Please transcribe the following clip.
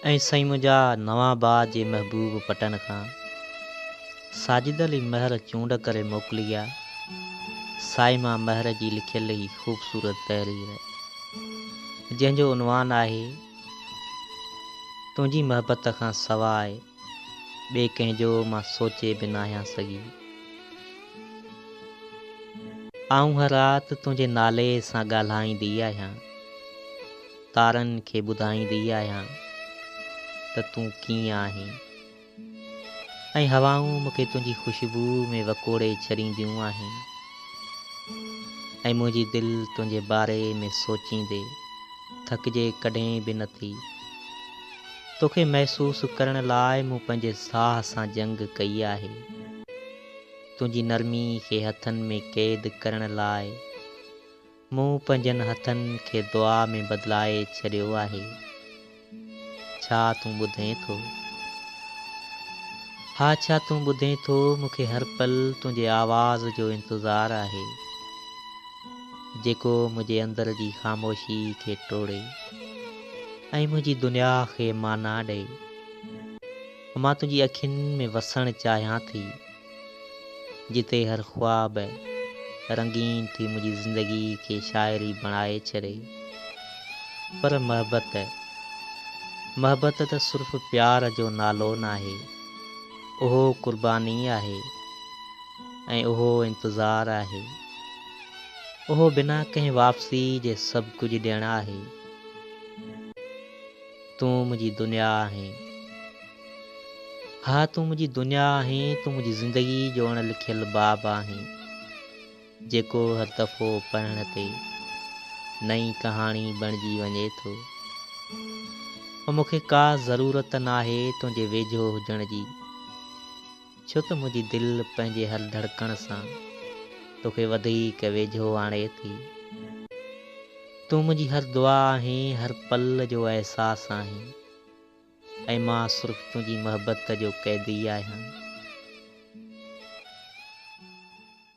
۽ سائين منهنجا نوان باغ جي محبوب پٽن کان ساجد علي مهر چونڊ ڪري موڪلي آ سائين مان مهر جي لکيل هي خوبصورت تحرير جنهن جو عنوان آهي تنهنجي محبت کان سواء ٻئي ڪنهن جو مان سوچي به ناهيان سگهي. آئون هر رات تنهنجي نالي سان ڳالهائيندي آهيان. تارن کي ٻڌائيندي آهيان ته تون ڪيئن آهين. ۽ هوائون مون کي تنهنجي خوشبوء ۾ وڪوڙي ڇڏينديون آهن. ۽ منهنجي دل تنهنجي باري ۾ سوچيندي ٿڪجي ڪڏهن به نٿي. توکي محسوس ڪرڻ لاء مون پنهنجي ساهه سان جنگ ڪئي آهي. تنهنجي نرمي کي هٿن ۾ قيد ڪرڻ لاء مون پنهنجن هٿن کي دعا ۾ بدلائي ڇڏيو آهي. ڇا تون ٻڌين ٿو؟ ها ڇا تون ٻڌين ٿو؟ مون کي هر پل تنهنجي آواز جو انتظار آهي، جيڪو منهنجي اندر جي خاموشي کي ٽوڙي. ۽ منهنجي دنيا کي معنيٰ ڏئي. مان تنهنجي اکين ۾ وسڻ چاهيان ٿي، جتي هر خواب رنگين ٿي منهنجي زندگي کي شاعري بڻائي ڇڏي. پر محبت، محبت ته صرف پيار جو نالو ناهي، اهو قرباني آهي ۽ اهو انتظار آهي. اهو بنا ڪنهن واپسي جي سڀ ڪجهه ڏيڻ آهي. تون منهنجي دنيا آهين. ها تون منهنجي دنيا آهين تون منهنجي زندگي جو اڻ لکيل باب آهين جيڪو هر دفعو پڙهڻ تي نئين ڪهاڻي بڻجي وڃي ٿو مون کي ڪا ضرورت ناهي تنهنجي ويجهو هجڻ جي ڇو ته منهنجي دل پنهنجي هر ڌڙڪڻ سان توکي وڌيڪ ويجهو آڻي ٿي. تون منهنجي هر دعا آهين، هر پل جو احساس آهين ۽ مان صرف تنهنجي محبت جو قيدي آهيان.